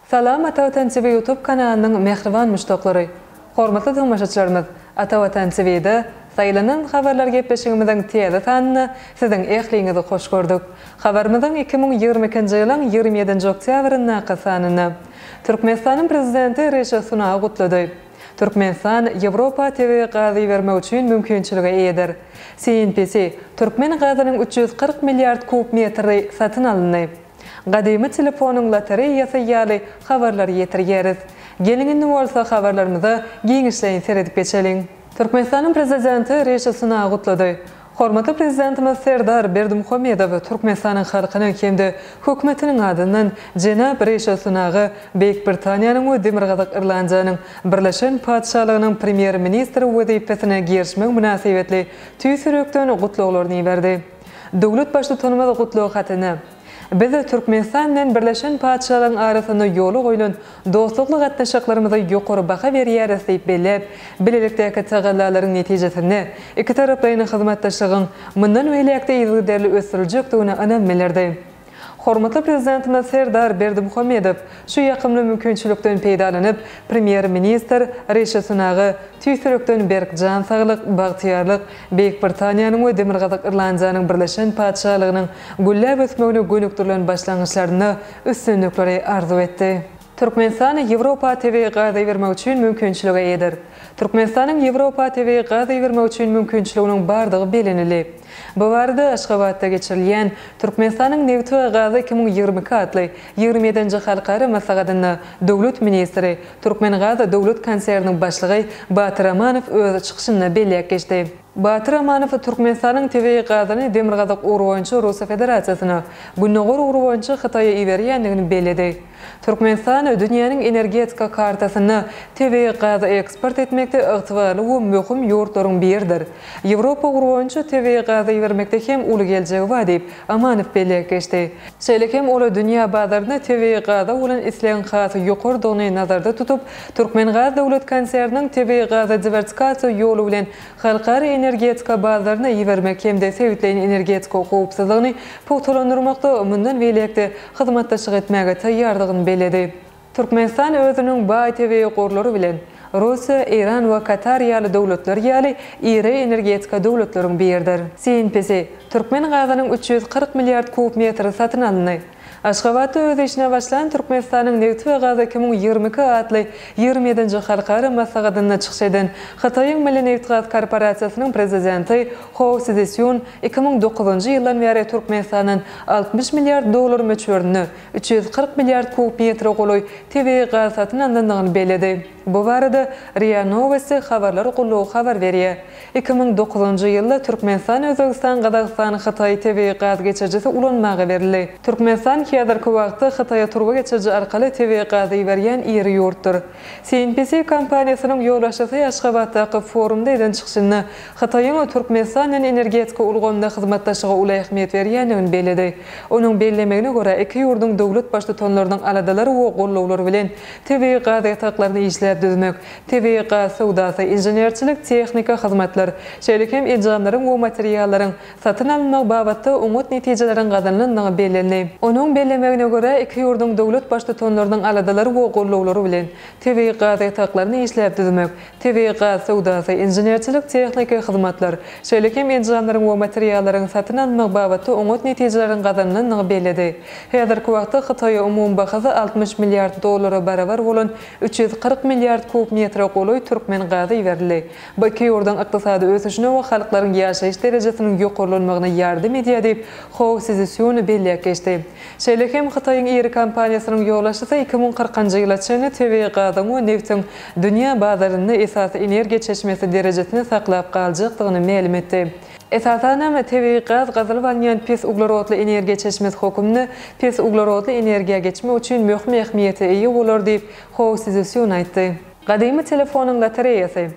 Salam Atavatan TV ýutub kanalynyň mähriban muşdaklary! Hormatly tomaşaçylarymyz! Atavatan TVda Saýlanan habarlar gepleşigimiziň täze sanyna siziň ähliňizi hoş gördük. Habarymyzyň iki müň ýigrimi ikinji ýylyň ýigrimi ýedinji oktýabryndaky sanyna Türkmenistanyň Prezidenti Rişi Sunagy gutlady. Türkmenistan Ýewropa tebigy gaz ibermek üçin mümkinçilige eýedir. CNPC, Türkmen gazynyň üç ýüz kyrk milliard kub metri satyn alyndy. Gadymy telefonyň lotereýasy ýaly habarlary ýetirýäris. Geliň indi bolsa habarlarymyza giňişleýin seredip geçeliň. Türkmenistanyň Prezidenti Rişi Sunagy gutlady. Hormatly Prezidentimiz Serdar Berdimuhamedow Türkmenistanyň halkynyň hem-de Hökümetiniň adyndan jenap Rişi Sunaga Beýik Britaniýanyň we Demirgazyk Irlandiýanyň Birleşen Patyşalygynyň Premýer-ministri wezipesine girişmegi mynasybetli tüýs ýürekden gutlaglaryny iberdi. Döwlet Baştutanymyz gutlag hatyny. Biz Türkmenistan bilen Birleşen Patyşalygyň arasynda ýola goýlan dostlukly gatnaşyklarymyza ýokary baha berýäris diýip belläp, bilelikdäki tagallalaryň netijesinde ikitaraplaýyn hyzmatdaşlygyň mundan beýläk-de yzygiderli ösdüriljekdigine ynam bildirdi. Hormatly Prezidentimiz Serdar Berdimuhamedow şu ýakymly mümkinçilikden peýdalanyp, Premýer-ministr Rishi Sunaga tüýs ýürekden berk jan saglyk, bagtyýarlyk, Beýik Britaniýanyň we Demirgazyk Irlandiýanyň Birleşen Patyşalygynyň gülläp ösmegine gönükdirilen başlangyçlarynda üstünlikleri arzuw etdi. Türkmenistan Ýewropa tebigy gaz ibermek üçin mümkinçilige eýedir. Türkmenistanyň Ýewropa tebigy gaz ibermek üçin mümkinçiliginiň bardygy bellenildi. Bu barada Aşgabatda geçirilýän Türkmenistanyň nebiti we gazy iki müň ýigrimi iki atly ýigrimi ýedinji halkara maslahatynda döwlet ministri Türkmengaz döwlet konserniniň başlygy Batyr Amanow öz çykyşynda belläp geçdi. Batyr Amanow Türkmenistanyň tebigy gazyny demirgazyk ugry boýunça Russiýa Federasiýasyna, gündogar ugry boýunça Hytaýa iberýändigini belledi. Türkmenistan dünýäniň energetika kartasynda tebigy gazy eksport etmekde ygtybarly we möhüm ýurtlaryň biridir. Ýewropa ugry boýunça tebigy gazy ibermekde hem uly geljegi bar diýip, Amanow belläp geçdi. Şeýle hem ol dünýä bazarynda tebigy gaza bolan islegiň has ýokarydygyny nazarda tutup, Türkmengaz döwlet konserniniň tebigy gazy diwersikasiýa ýoly bilen halkara energetika bazaryna ibermek hem-de sebitleýin energetika howpsuzlygyny pugtalandyrmakda mundan beýläk-de hyzmatdaşlyk etmäge taýýardygyny belledi. Türkmenistan özüniň baý tebigy gorlary bilen Russiýa, Eýran we Katar ýaly döwletler ýaly iri energetika döwletleriň biridir. Synpesi, türkmen gazynyň üç ýüz kyrk milliard kub metri satyn alyndy. Aşgabatda öz işine başlan Türkmenistanyň nebti we gazy iki müň ýigrimi iki atly ýigrimi ýedinji halkara maslahatynda çykyş eden Hytaýyň Milli nebitgaz korporasiýasynyň prezidenti Ho Szisyun iki müň dokuzynjy ýyldan bäri Türkmenistandan altmyş milliard dollar möçberinde üç ýüz kyrk milliard kub metre golaý tebigy gaz satyn alnandygyny belledi. Bu barada ria Nowosti habarlar gullugy habar berýär. Iki müň dokuzynjy ýylda Türkmenistan, Özbegistan, Gazagystan, Hytaý tebigy gaz geçirijisi ulanmaga berildi. Türkmenistan häzirki wagtda Hytaýa turba geçiriji arkaly tebigy gazy iberýän iri ýurtdur. CNPC kompaniýasynyň ýolbaşçysy Aşgabatdaky forumda eden çykyşynda Hytaýyň Türkmenistan bilen energetika ulgamynda hyzmatdaşlyga uly ähmiýet berýändigini belledi. Onuň bellemegine görä, iki ýurduň döwlet Baştutanlarynyň aladalary we gollawlary bilen tebigy gaz ýataklaryny işläp düzmek, tebigy gaz söwdasy, inženerçilik, tehnika, hyzmatlar, şeýle hem enjamlaryň we materiallaryň satyn alynmagy babatda oňat netijeleriň gazanylandygy bellendi. Onuň bellemegine görä, iki ýurduň döwlet Baştutanlarynyň aladalary we gollawlary bilen tebigy gaz ýataklaryny işläp düzmek, tebigy gaz söwdasy, inženerçilik-tehniki hyzmatlar, şeýle hem enjamlaryň we materiallaryň satyn alynmagy babatda oňat netijeleriň gazanylandygy belledi. Häzirki wagtda Hytaýa umumy bahasy altmyş milliard dollara barabar bolan üç ýüz kyrk milliard kub metre golaý türkmen gazy iberildi. Bu iki ýurduň ykdysady ösüşine we halklaryň ýaşaýyş derejesiniň ýokarlanmagyna ýardam edýär diýip, Hou Szisun belläp geçdi. Şeýle hem Hytaýyň iri kompaniýasynyň ýolbaşçysy iki müň kyrkynjy ýyla çenli tebigy gazyň we nebtiň dünýä bazarynda esasy energiýa çeşmesi derejesini saklap galjakdygyny mälim etdi. Esasanam, tebigy gaz gazylyp alynýan pes uglerodly energiýa çeşmesi hokumnda pes uglerodly energiýa geçmek üçin möhüm ähmiýete eýe bolar diýip, Hou Sziszýun aýtdy. Gadymy telefonyň lotereýasy.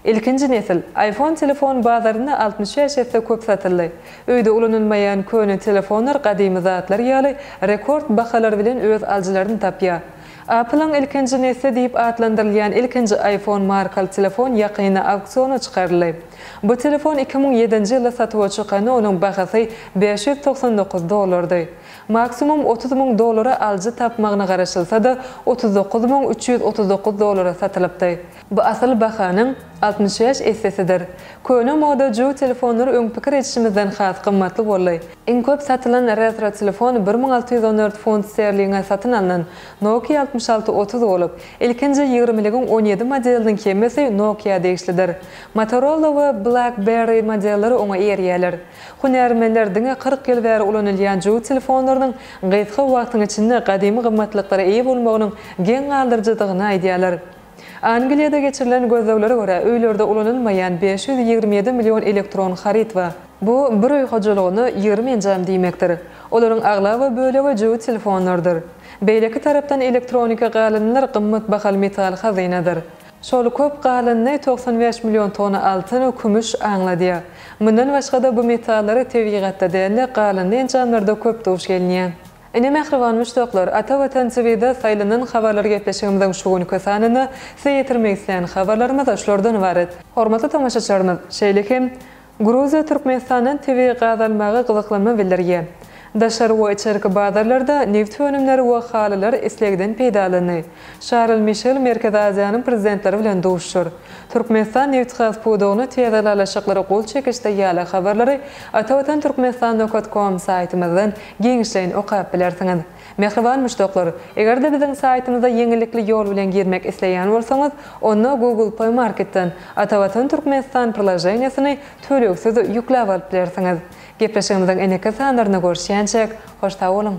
Ilkinji nesil, iPhone telefon bazarynda altmyş bäş esse köp satyldy. Öýde ulanylmaýan köne telefonlar gadymy zatlar ýaly rekord bahalar bilen öz alyjylaryny tapýar. Apple-yň ilkinji nesli diýip atlandyrylýan ilkinji iPhone markaly telefon ýakynda auksiona çykaryldy. Bu telefon iki müň ýedinji ýylda satuwa çykanda onuň bahasy bäş ýüz togsan dokuz dollardy. Maksimum otuz müň dollara alyjy tapmagyna garaşylsa-da, otuz dokuz müň üç ýüz otuz dokuz dollara satylypdy. Bu asyl bahanyň altmyş bäş essesidir. Köne moda Ju telefonlary öň pikir edişimizden has gymmatly boldy. Iň köp satylan retro telefon bir müň alty ýüz on dört funt sterlinge satyn alnan Nokia altmyş alty otuz bolup, ilkinji ýigrimiligiň on ýedi modeliniň hemmesi Nokia degişlidir. Motorola we Blackberry modelleri oňa eýerýärler. Hünärmenler diňe kyrk ýyl bäri ulanylýan Ju telefonlarynyň gysga wagtyň içinde gadymy gymmatlyklara eýe bolmagynyň geň galdyryjydygyny aýdýarlar. Angliýada geçirilen gözleglere görä, öýlerde ulanylmaýan bäş ýüz ýigrimi ýedi million elektron haryt bar. Bu bir öý hojalygyna ýigrimi enjam diýmekdir. Olaryň aglaba bölegi jübüt telefonlardyr. Beýleki tarapdan elektroniki galyndylar gymmat bahaly metal hazynadyr. Şol köp galyndy togsan bäş million tonna altyn, kümüş aňladýar. Mundan başga-da bu metallary tebigatda däl-de, galyndy enjamlarda köp duş gelýär. Ine mähriban muşdaklar, Ata Watan TV-de saýlanan habarlar gepleşigimiziň şu günki sanynda size ýetirmek isleýän habarlarymyz şulardan ybarat. Hormatly tomaşaçylarymyz, şeýle hem Gruziýa Türkmenistandan tebigy gaz almaga gyzyklanma bildirýär. Daşary we içerki bazarlarda nebit önümleri we halylar islegden peýdalandy. Şarl Mişel Merkezi Aziýanyň prezidentleri bilen duşuşar. Türkmenistan nebitgaz pudagyna täze ylalaşyklary gol çekişde ýaly habarlary Ata Watan Türkmenistan nokat kom saýtymyzdan Giňişleýin okap bilersiňiz. Mähriban muşdaklar, eger-de biziň saýtymyza ýeňillikli ýol bilen girmek isleýän bolsaňyz, onda Google Play Marketden Atavatan Türkmenistan priloženiýasyny tölegsiz ýükläp alyp bilersiňiz. Gepleşigimiziň indiki sanlarynda görüşýänçäk, hoş sag boluň!